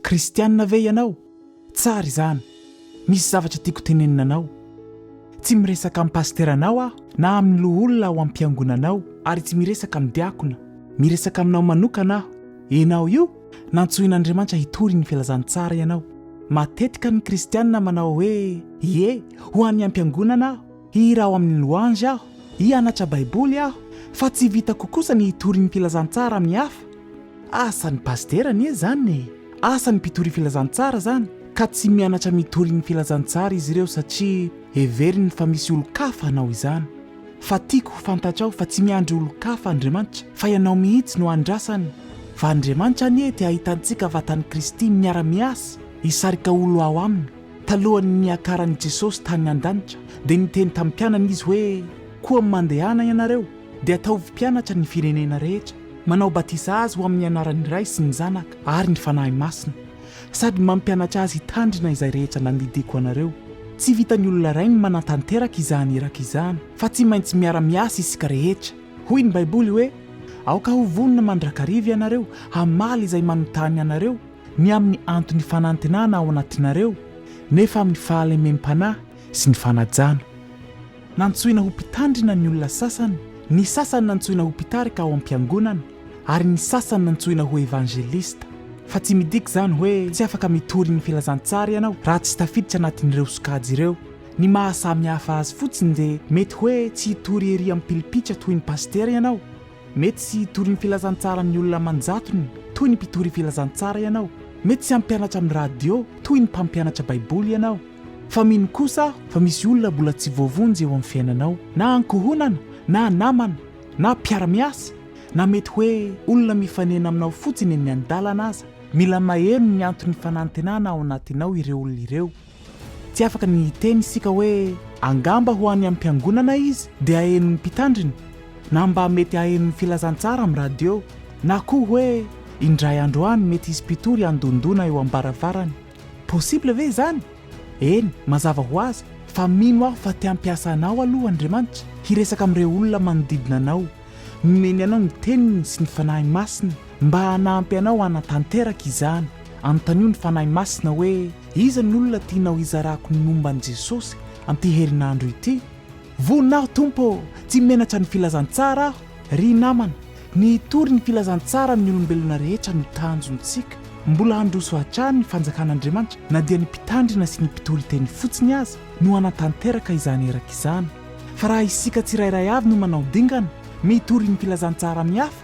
Kristianina ve ianao? Tsara izany. Misy zavatra tiako tenenina anao. Tsy miresaka amin'ny pasiteranao aho, na amin'ny loholona ao am-piangonanao, ary tsy miresaka amin'ny diakona. Miresaka aminao manokana aho. Ianao io, nantsoin'Andriamanitra hitory ny filazantsara ianao. Matetika ny Kristianina manao hoe, Ie, ho an'ny ampiangonana aho. Hihira ao amin'ny louange aho, hianatra Baiboly aho, fa tsy vitako kosa ny hitory ny filazantsara amin'ny hafa. Asan'ny pasitera anie izany e! Asan'ny mpitory filazantsara izany, ka tsy mianatra mitory ny filazantsara izy ireo satria heveriny fa misy olon-kafa hanao izany. Fa tiako ho fantatrao fa tsy miandry olon-kafa Andriamanitra, fa ianao mihitsy no andrasany. Fa Andriamanitra anie te hahita antsika vatan'i Kristy miara-miasa, hisarika olona ao aminy. Talohan'ny niakaran'i Jesosy tany an-danitra, dia niteny tamin'ny mpianany izy hoe, Koa mandehana ianareo, dia ataovy mpianatra ny firenena rehetra, manao batisa azy ho amin'ny anaran'ny Ray sy ny Zanaka ary ny Fanahy Masina, sady mampianatra azy hitandrina izay rehetra nandidiako anareo. Tsy vitan'ny olona iray ny manatanteraka izany iraka izany, fa tsy maintsy miara-miasa isika rehetra. Hoy ny Baiboly hoe, Aoka ho vonona mandrakariva ianareo, hamaly izay manontany anareo, ny amin'ny antony fanantenana ao anatinareo, nefa amin'ny fahalemem-panahy sy ny fanajana. Nantsoina ho mpitandrina ny olona sasany, ny sasany nantsoina ho mpitarika ao am-piangonana, ary ny sasany nantsoina ho evangelista. Fa tsy midika izany hoe tsy afaka mitory ny filazantsara ianao raha tsy tafiditra anatin'ireo sokajy ireo. Ny maha samihafa azy fotsiny dia mety hoe tsy hitory ery ampilipitra toy ny pasitera ianao, Mety tsy hitory ny filazantsaran'ny olona aman-jatony toy ny mpitory filazantsara ianao, mety tsy hampianatra amin'ny radio toy ny mpampianatra Baiboly ianao, fa mino kosa aho fa misy olona mbola tsy voavonjy eo amin'ny fiainanao, na ankohonana, na namana, na mpiara-miasa, na mety hoe olona mifanena aminao fotsiny eny an-dalana aza. Mila maheno ny anton'ny fanantenana ao anatinao ireo olona ireo. Tsy afaka ny hiteny isika hoe angamba ho any amin'ny mpiangonana izy dia hahenon'ny mpitandrina, na mba mety hahenon'ny filazantsara amin'ny radio, na koa hoe indray andro any mety hisy mpitory handondona eo am-baravarany. Possible ve izany? Eny, mazava ho azy, fa mino aho fa te hampiasa anao aloha Andriamanitra hiresaka amin'ireo olona manodidina anao. Nomeny anao ny Teniny sy ny Fanahy Masina mba hanampy anao hanatanteraka izany. Anontanio ny Fanahy Masina hoe. Iza ny olona tianao hizarako ny momba an'i Jesosy amin'ity herinandro ity? Vonona aho Tompo ô! Tsy menatra ny filazantsara aho. Ry namana, ny hitory ny filazantsara amin'ny olombelona rehetra no tanjontsika. Mbola handroso hatrany ny fanjakan'Andriamanitra na dia ny mpitandrina sy ny mpitory teny fotsiny aza no hanatanteraka izany eraka izany. Fa raha isika tsirairay avy no manao dingana, mitory ny filazantsara amin'ny hafa,